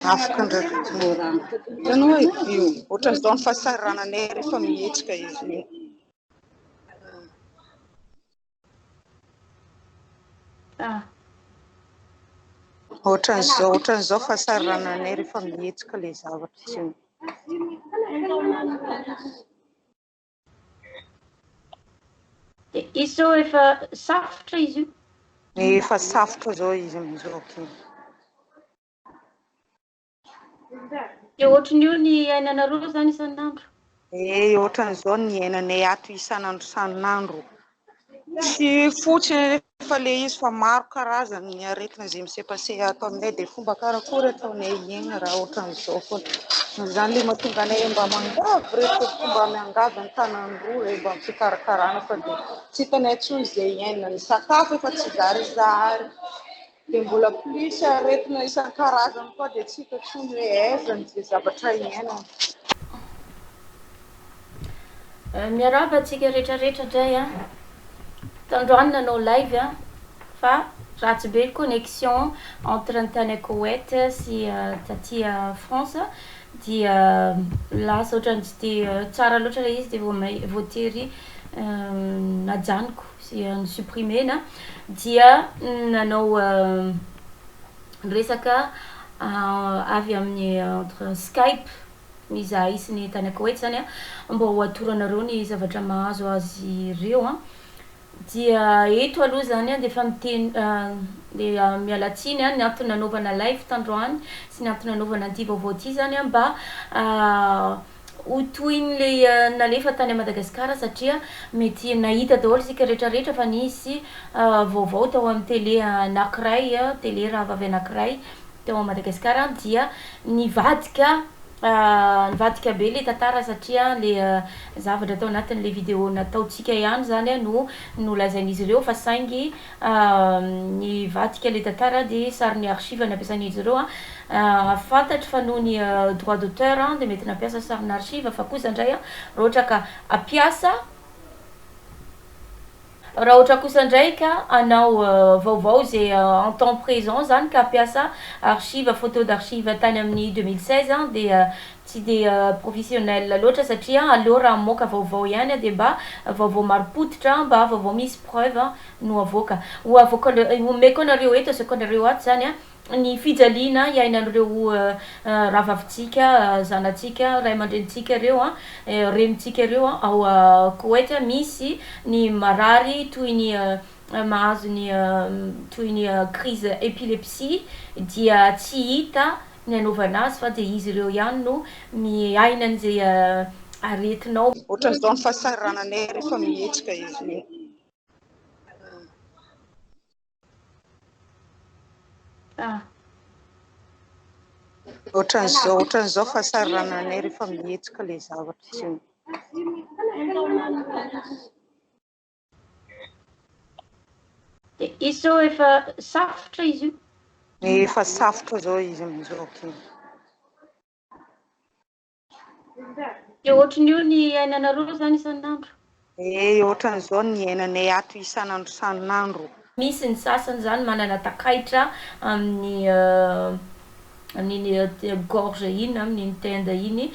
Afaka ndraiky Florent. Hitanao e, io ohatran izao ny fahasahirananay rehefa mihetsika izy io. Ah. Ohatran izao, ohatran izao fahasahirananay rehefa mihetsika le zavatra tsy eo. De izy zao efa safotra izy io. Efa safotra zao izy amizao. Okay. Dia ohatran'io ny iainanareo izany isan'andro? Eh, ohatran'izao ny iainanay ato isan'andro isan'andro. Tsy fotsiny anefa ilay izy fa maro karazany ny aretina izay misepaseha ato aminay dia fomba karakory ataonay hiaina raha ohatran'izao foana. Izany ilay mahatonga anay mba miangavy rehefa mba miangavy an-tanan'ireo ilay mba fikarakarana fa dia tsy hitanay intsony izay iainana. Ny sakafo efa tsy zarizary. Dia mbola plus aretina isan-karazany koa dia tsy hita intsony hoe aiza ny izay zavatra iainana. Miarahaba antsika rehetra rehetra indray a. Tandroany nanao live a fa ratsy be ny connexion entre ny tany Koweït sy taty France dia lasa ohatran'ny tsy dia tsara loatra ilay izy dia vao may vao tery najanoko. sy ny supprimer-na dia nanao resaka avy amin'ny entre skype izahay sy ny tany Koweït zany a, mba ho atoro anareo ny zavatra mahazo azy ireo a. Dia eto aloha zany dia efa miteny dia miala tsiny ny antony nanaovana live tandroany sy ny antony nanaovana an'ity vaovao ity zany mba ho toy ny le nalefa tany Madagascar satria mety nahita daholo isika rehetra rehetra fa nisy vaovao tao amin'ny tele anakiray tele rahavavy anakiray tao Madagascar dia nivadika nivadika be le tantara satria le zavatra tao anatin'le video nataontsika ihany zany no nolazain'izy ireo fa saingy Ny vadika le tantara dia sary ny archive nampiasan'izy ireo. Fantatro fa noho ny droit d'auteur dia mety nampiasa sarin'ny archive fa kosa indray raha ohatra ka hampiasa raha ohatra kosa indray ka hanao vaovao izay en temps présent izany ka hampiasa archive, photo d'archive tany amin'ny deux mille seize dia tsy dia professionnel loatra satria aleo raha mamoaka vaovao ihany dia mba vaovao marim-pototra, mba vaovao misy preuves no avoaka. Ho avoaka homeko anareo eto, asehoko anareo ato izany ny fijaliana iainan'ireo rahavavintsika, zanatsika, ray aman-drenintsika ireo, renintsika ireo ao Koweït, misy ny marary toy ny mahazo ny toy ny crise epilepsie dia tsy hita ny anaovana azy fa dia izy ireo ihany no miaina an'izay aretinao. Ohatran'izao ny fahasahirananay rehefa mihetsika izy ireny. Ah. Ohatran'izao, ohatran'izao fahasahirananay rehefa mihetsika ilay zavatra izay. Izy zao efa safotra izy io. Efa safotra zao izy amin'izao aky. Dia ohatran'io ny iainanareo izany isan'andro? Eh, ohatran'izao ny iainanay ato isan'andro isan'andro. Misy ny sasany izany manana takaitra amin'ny amin'iny gorge iny na amin'iny tenda iny.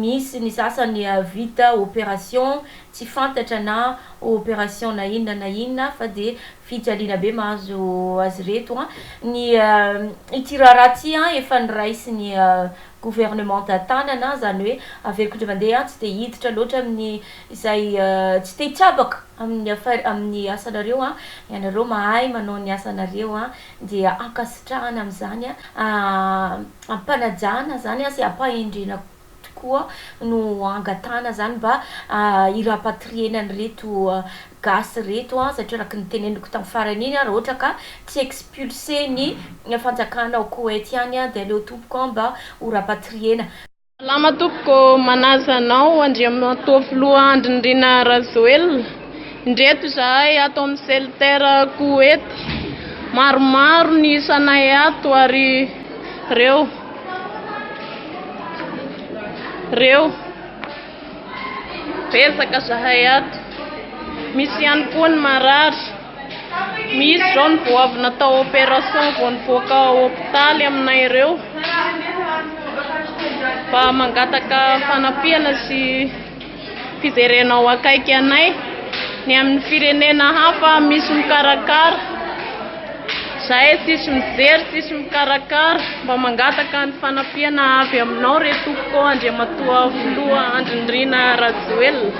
Misy ny sasany vita operation tsy fantatra na operation na inona na inona fa dia fijaliana be mahazo azy ireto an! Ny ity raharaha ity an efa noraisin'ny gouvernementa tanana izany hoe averiko indray mandeha an! Tsy dia hiditra loatra amin'ny izay tsy te hitsabaka amin'ny affaire, amin'ny asanareo an! Ianareo mahay manao ny asanareo an! dia ankasitrahana amin'izany ampanajana izany sy ampahendrena tokoa no angatahana izany mba hirapatriena an'ireto gasy ireto satria araka ny teneniko tamin'ny farany iny raha ohatra ka tsy expulser ny fanjakana ao Koety ihany dia aleo tompoko mba ho rapatriena Salama tompoko, manaja anao Andriamatoa Filoha Andry Nirina Rajoelina, indreto izahay ato amin'ny Celter Koety, maromaro ny isanay ato ary reo, reo, betsaka zahay ato, misy ihany koa ny marary. Misy izao ny goavy natao opération vao nivoaka ao hopitaly aminay ireo mba mangataka fanampiana sy fijerena ao akaiky anay ny amin'ny firenena hafa misy mikarakara zahay tsisy mijery tsisy mikarakara mba mangataka ny fanampiana avy aminao re tompoko andriamatoa filoha andry nirina rajoelina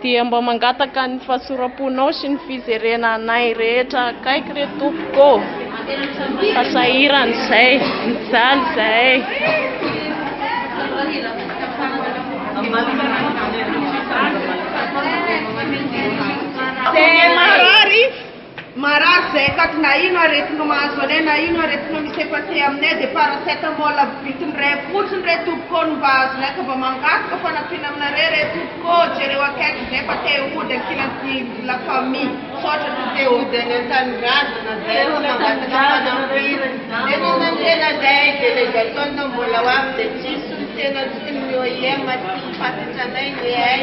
Dia mba mangataka ny fahasoram-ponao sy ny fizerena anay rehetra akaiky re tompoko ô! Fa sahirana izay, mijaly izahay. Marary izay akaty na ino aretina mahazo anay na ino aretina misepaseha aminay dia paracetamol avy bitiny iray fotsiny re tompoko ô no mba azonay ka mba mangataka fanampiana aminareo re tompoko ô jereo akaiky izay fa te hody ankilan'ny la famille misaotra tompoko te hody any antanindrazana zay no mangataka fanampiana nefa na ny tena zay délégation no mbola ho avy dia tsisy ny tena tsy ny OIM tsy ny fahatratranay ny hay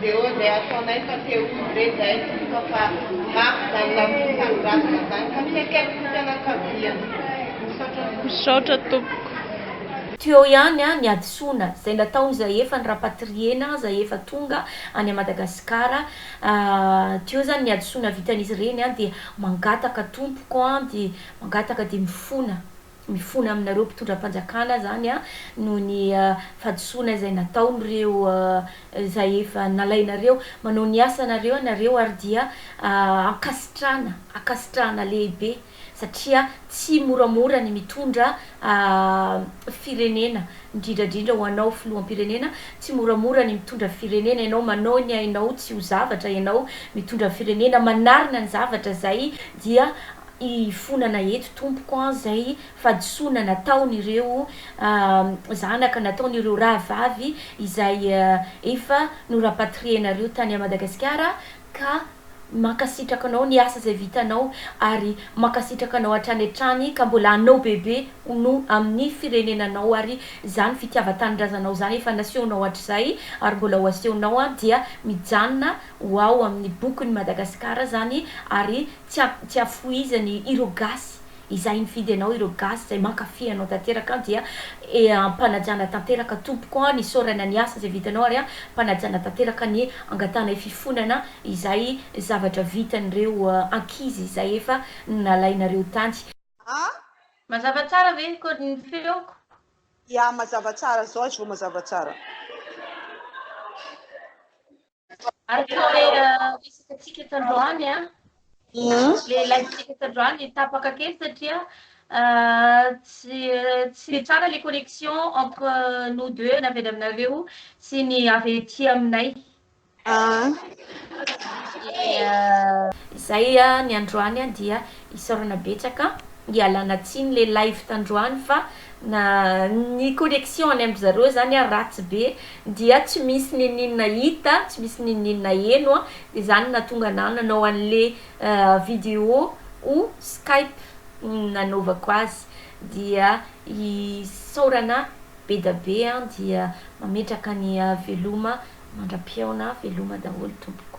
Dia hoy izay ataonay fa te ho izy re izay tompoko fa mafy izany labozia tanindrazana izany ka fiaikaiky ny fianakaviany. Misaotra tompoko. Misaotra tompoko. Teo ihany ny hadisoana izay nataony izay efa ny rapatriena izay efa tonga any a Madagascar teo zany ny hadisoana vitan'izy ireny dia mangataka tompoko dia mangataka dia mifona. mifona aminareo mpitondram-panjakana izany noho ny fahadisoana izay nataon'ireo izay efa nalainareo. Manao ny asanareo ianareo ary dia ankasitrahana, ankasitrahana lehibe satria tsy moramora ny mitondra firenena, indrindra indrindra ho anao filoham-pirenena, tsy moramora ny mitondra firenena ianao, manao ny ainao tsy ho zavatra ianao mitondra firenena, manarina ny zavatra izay dia. hifonana eto tompoko an! izay fahadisoana nataon' ireo zanaka, nataon' ireo rahavavy izay efa norapatrienareo tany a Madagasikara ka mankasitraka anao ny asa izay vitanao ary mankasitraka anao hatrany hatrany ka mbola hanao bebe ho no amin' ny firenenanao ary izany fitiavan-tanindrazanao izany efa nasehonao hatrizay ary mbola ho asehonao an! dia mijanona ho ao amin' ny bokin' i Madagasikara izany ary Tsy tsy afohizany ireo gasy izay nifidy anao ireo gasy izay mankafy anao tanteraka an dia e ampanajana tanteraka tompoko an isaorana ny asa izay vitanao ary ampanajana tanteraka ny angatahana fifonana izay zavatra vitan'ireo ankizy izay efa nalainareo tany. An? Mazava tsara ve ko ny feoko? Ya mazava tsara zao izy vao mazava tsara. Araka ilay resakantsika tandroany, ilay live-ntsika tandroany, tapaka kely satria tsy tsy dia tsara ilay connexion entre nous deux, na avy any aminareo sy ny avy aty aminay. Izay ny androany dia Isaorana betsaka ialana tsiny le live tandroany fa na ny connexion any am zareo zany ary ratsy be dia tsy misy ninininona hita tsy misy ninininona heno an de zany natonga anah nanao anle video o skype nanaovako azy dia isaorana bedabe an dia mametraka ny veloma mandra pihaona veloma daholo tompoko.